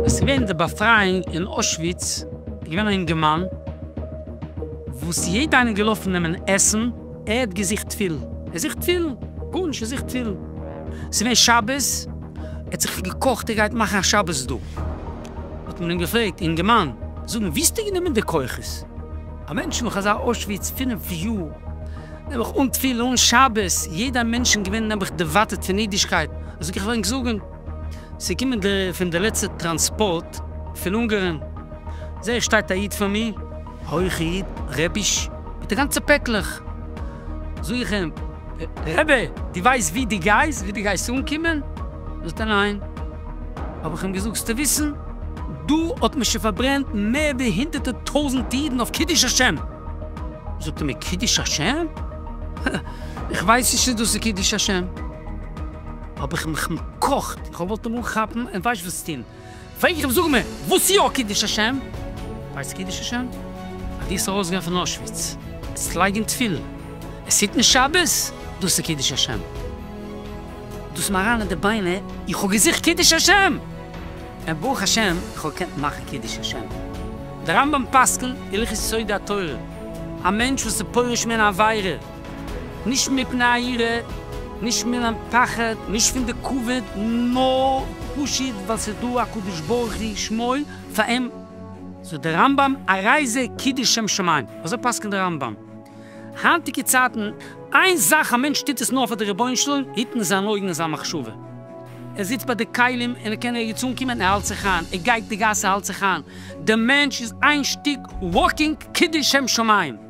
עס איז געווען די באפרייאונג אין אוישוויץ, עס איז געווען א אינגערמאן וואס יעדע איינער איז געלאפן נעמען עסן, ער האט געזוכט תפילין, ער זוכט תפילין, גארנישט ער זוכט תפילין, עס איז געווען שבת, ער האט זיך געקאכט ער גייט מאכן א שבת דא, האט מען אים געפרעגט, אינגערמאן, זאג מיר, ווי האסטו גענומען די כוחות? א מענטש נאך אזא אוישוויץ פֿינף יאר, נעבעך אן תפילה, אן שבת, יעדע מענטשן געווען נעבעך דערווייטערט פון אידישקייט, זאג איך, וועל ענק זאגן, ס'איז געקומען די פון די לעצטע טראנספארט פון אונגערן, זעה איך שטייט א איד פאר מיר, הויכע איד, רעביש, מיט די גאנצע פעקלעך, זוך אים, רבי, דו ווייסט ווי דו גייסט, ווי דו גייסט אנקומען? זאגט ער, ניין. האב איך אים געזאגט, זאלסטו וויסן, דא האט מען שוין פארברענט מער ווי הונדערטע טויזנט אידן אויף קידוש השם! זאגט ער מיר, קידוש השם? איך ווייס נישט צו דאס איז קידוש השם. האב איך מיך נעקאכט, איך האב געוואלט אים אנכאפן און ווייסט וואס טון. פרעג איך אים זאג מיר וואס יא קידוש השם? ווייסטו קידוש השם? אז דו זאלסט ארויסגיין פון אוישוויץ זאלסטו לייגן תפילין און היטן שבת, דאס איז קידוש השם? דאס איז מיר אריין אין די ביינער, איך האב געזוכט קידוש השם! און ברוך השם איך האב געקענט מאכן קידוש השם. דער רמב ם פסק'נט, הלכות יסודי התורה, א מענטש וואס איז פורש מן העבירה, נישט מפני הירא, נישט מן הפחד, נישט פון די כבוד, נאר פשוט ווייל ס'איז דא א קדוש ברוך הוא שמו פאר אים. זאגט דער רמב ם, הרי זה קידוש שם שמים, אזוי פסק'נט דער רמב ם. היינטיגע צייטן, איין זאך א מענטש טוט עס נאר פאר די רבונו של עולם, היטן זיין אויגן און זיין מחשבה. ער זיצט ביי די כלים און ער קען ערגעץ אנקומען, ער האלט זיך איין, ער גייט די גאס ער האלט זיך איין, דער מענטש איז איין שטיק וואקינג קידוש שם שמים.